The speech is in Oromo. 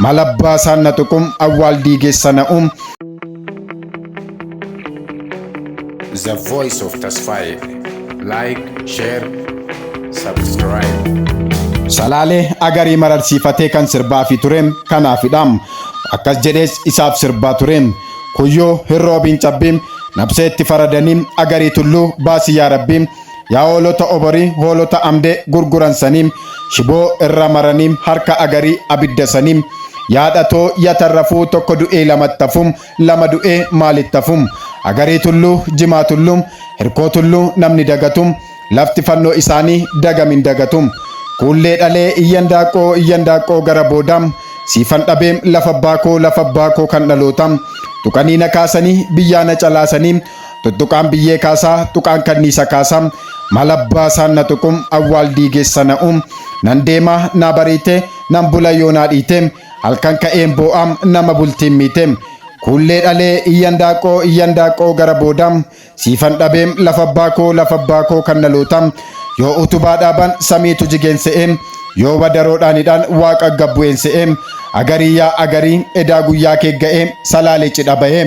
Mal abbaa isaan na tuqum awwaal diigeessa na um. The voice of Tasfaye. Like, share, subscribe. Salaalee agarii mararsiifatee kan sirbaa fi ture kanaafidha. Akkas jedhees isaaf sirbaa ture. Kuyyoo hin roobiin cabbii nabsee itti faradanii agarii tulluu baasii yaa rabbii Yaa hoolota oborii hoolota amdee gurguran sanii shiboo irra maranii harka agarii abidda sanii yaa dhatoo ya tarrafuu tokko du'ee lamattafum lama du'ee maalittafum agarii tulluu jimaa tulluu hirkoo tulluu namni dagatum lafti fannoo isaanii dagamin dagatum kuullee dhalee iyyan daaqqoo iyyan daaqqoo gara boodaam siifan dhabeem lafa abbaa koo lafa abbaa koo kan dhalootaam tuqanii na kaasanii biyyaa na calaasanii Tuttuqaan biyyee kaasaa, tuqaan kanniisa kaasaa, maal abbaa isaan na tuqu, awwaal diigeessa na uum, nan deema naa bariite, nan bula yoo naa dhiite, halkan ka'een boo'a nama bultiin miite. Kuullee dhalee iyyan daaqoo iyyan daaqoo gara booda siifan dhabee lafa abbaa koo lafa abbaa koo kan dhaloota yoo utubaa dhaaban samiitu jigeen se'ee yoo wadaroodhaan hidhaan waaqa gabbu'een se'ee agarii yaa agarii edaa guyyaa kee ga'ee salaalee cidha bahee.